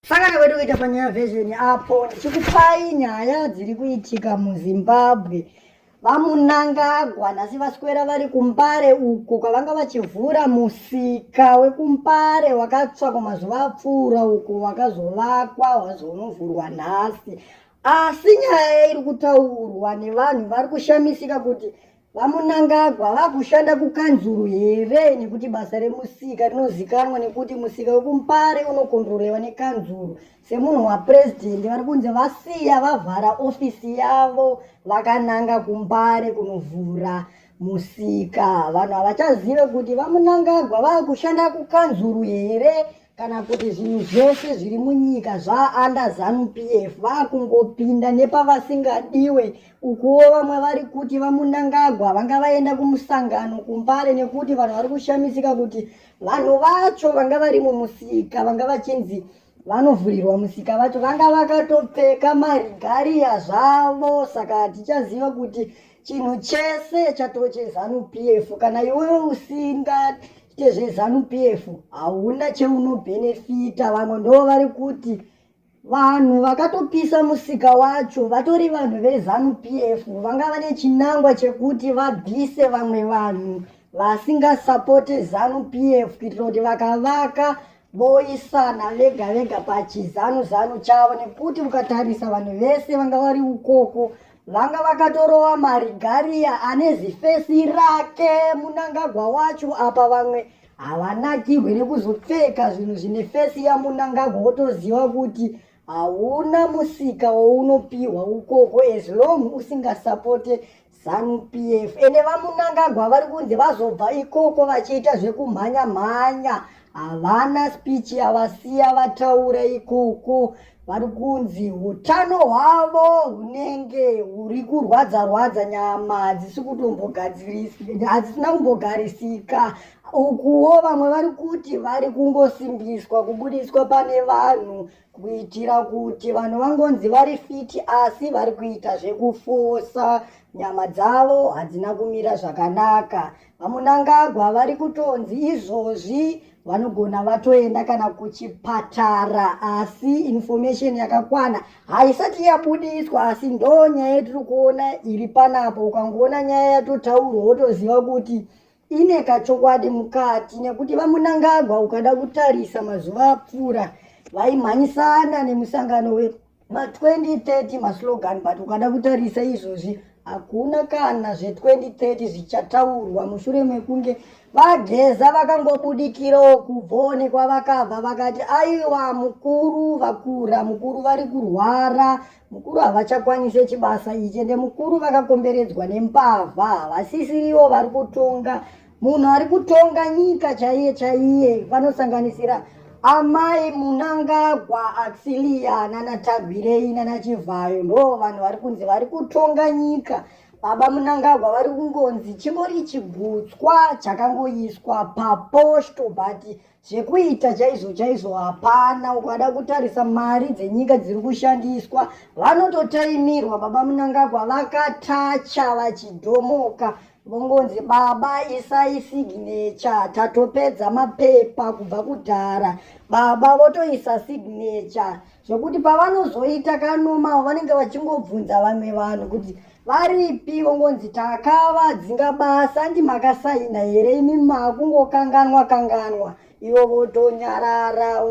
Sangana kwedu kuita panyaya version apo ndichikupai nyaya dziri kuitika muzimbabwe vamunangagwa nhasi vaswera vari kumbare uko kwavanga vachivhura musika wekumbare wakatsva kwamazuva apfuura uko wakazovakwa wazonovhurwa nhasi asi nyaya iri kutaurwa nevanhu vari kushamisika kuti VaMunangagwa vakushanda kukanzuru here nekuti basa remusika rinozikanwa nekuti musika wekuMpare unokontrolewa nekanzuru semunhu wapurezidendi vari kunzi vasiya vavhara ofisi yavo vakananga kuMpare kunovhura musika vanhu havachazive kuti VaMunangagwa vakushanda kukanzuru here kana kuti zvinhu zvese zviri munyika zvaanda zanu p f vakungopinda nepavasingadiwe ukuwo vamwe vari kuti vamunangagwa vanga vaenda kumusangano kumbare nekuti vanhu vari kushamisika kuti vanhu vacho vanga vari mumusika vanga vachinzi vanovhurirwa musika vacho vanga vakatopfeka marigariya zvavo saka tichaziva kuti chinhu chese chatove chezanu pf kana iwe usingaite zvezanu pf hauna cheunobhenefita vamwe ndo vari kuti vanhu vakatopisa musika wacho vatori vanhu vezanu pf vanga vane chinangwa chekuti vabvise vamwe vanhu vasingasapote zanu pf kuitira kuti vakavaka voisana vega vega pachizanu zanu chavo nekuti ukatarisa vanhu vese vanga vari ukoko vanga vakatorova marigariya ane zifesi rake munangagwa wacho apa vamwe havanakirwe nekuzopfeka zvinhu zvine fesi yamunangagwa wotoziva kuti hauna musika wounopiwa ukoko as long usingasapote Zanu PF ende vamunangagwa vari kunzi vazobva ikoko vachiita zvekumhanya mhanya havana speech yavasiya vataura ikoko vari kunzi utano hwavo hunenge huri kurwadza rwadza nyama hadzisi kutombogadzirisika hadzisina kumbogarisika ukuwo vamwe vari kuti vari kungosimbiswa kubudiswa pane vanhu kuitira kuti vanhu vangonzi vari fiti asi vari kuita zvekufosa nyama dzavo hadzina kumira zvakanaka vamunangagwa vari kutonzi izvozvi vanogona vatoenda kana kuchipatara asi information yakakwana haisati yabudiswa asi ndo nyaya yatiri kuona iri panapo ukangoona nyaya yatotaurwa wotoziva kuti ine kachokwadi mukati nekuti vamunangagwa ukada kutarisa mazuva apfuura vaimhanyisana nemusangano wema2030 maslogan but ukada kutarisa izvozvi hakuna kana zve2030 zvichataurwa mushure mekunge vageza vakangobudikirawo kubvone kwavakabva vakati aiwa mukuru vakura mukuru vari kurwara mukuru havachakwanise chibasa ichi ende mukuru vakakomberedzwa nembavha havasisiriwo vari kutonga munhu ari kutonga nyika chaiye chaiye vanosanganisira amai munangagwa axilia nanatagwirei nanachivhayo ndo vanhu vari kunzi vari kutonga nyika baba munangagwa vari kungonzi chingori chigutswa chakangoiswa paposto but zvekuita chaizvo chaizvo hapana ukada kutarisa mari dzenyika dziri kushandiswa vanototaimirwa baba munangagwa vakatacha vachidhomoka vongonzi baba isai signecha tatopedza mapepa kubva kudhara baba votoisa signecha zvekuti pavanozoita kanomao vanenge vachingobvunza vamwe vanhu kuti varipi vongonzi takavadzinga basa andi makasaina here imi makungokanganwa kanganwa ivo votonyarara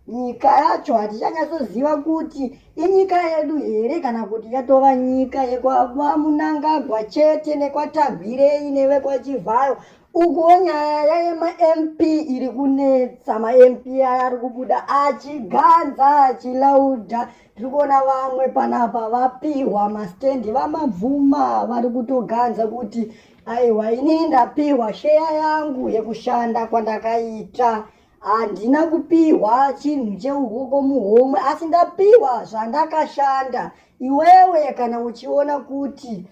nyika yacho hatichanyatsoziva kuti inyika yedu here kana kuti yatova nyika yekwamunangagwa chete nekwatagwirei nevekwachivhayo Ukuwo nyaya yayema MP iri kunetsa ma MP aya ari kubuda achiganza achilauda tiri kuona vamwe panapa vapihwa mastendi vamabvuma vari kutoganza kuti aiwa inini ndapihwa sheya yangu yekushanda kwandakaita handina kupihwa chinhu cheukoko muhomwe asi ndapihwa zvandakashanda iwewe kana uchiona kuti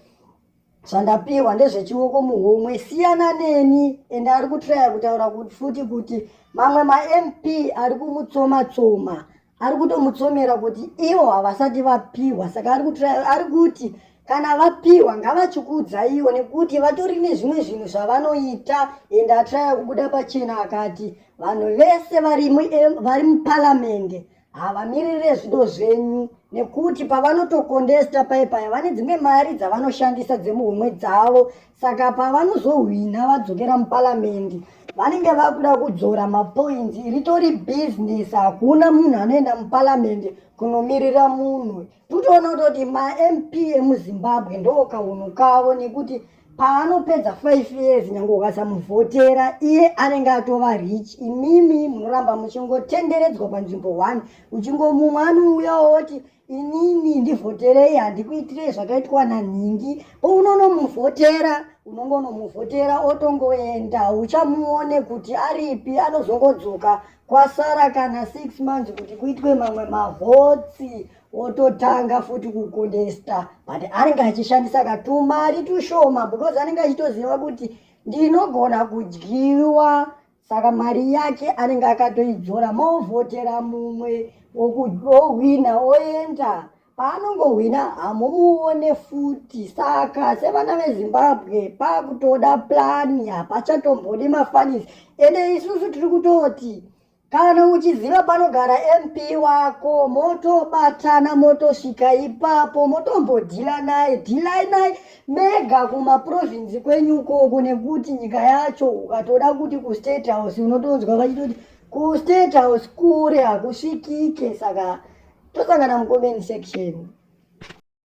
zvandapiwa ndezvechioko muhomwe siyana neni ende ari kutraya kutaura futi kuti mamwe mamp ari kumutsoma tsoma ari kutomutsomera kuti ivo havasati vapiwa saka ari kutraya ari kuti kana vapiwa ngavachikudzaiwo nekuti vatori nezvimwe zvinhu zvavanoita ende atraya kubuda pachena akati vanhu vese vari muparamende havamirire zvido zvenyu nekuti pavanotokondesta paye paya vane dzimwe mari dzavanoshandisa dzemuhomwe dzavo saka pavanozohwina vadzokera muparamendi vanenge vakuda kudzora mapoints ritori business hakuna munhu anoenda muparamendi kunomirira munhu totoona kutoti mamp emuzimbabwe ndookaunhu kavo nekuti paanopedza five years nyange ukasamuvhotera iye anenge atova rich imimi munoramba muchingotenderedzwa panzvimbo one uchingomumwe anouya woti inini ndivhoterei handikuitirei zvakaitwa nanhingi pounonomuvhotera unonge unomuvhotera otongoenda uchamuone kuti aripi anozongodzoka kwasara kana six months kuti kuitwe mamwe mavhotsi ototanga futi kukundesta but anenge achishandisa katumari tushoma because anenge achitoziva kuti ndinogona kudyiwa saka mari yake anenge akatoidzora movhotera mumwe ohwina oenda paanongohwina hamumuone futi saka sevana vezimbabwe pakutoda plani hapachatombodi mafanisi ende isusu tiri kutoti Kana uchiziva panogara MP wako motobatana motosvika ipapo motombodhila naye dhilai naye mega kumaprovinzi kwenyu ukoko nekuti nyika yacho ukatoda kuti kustate house unotonzwa vachitoti kustate house kure hakusvikike saka tosangana mucomment section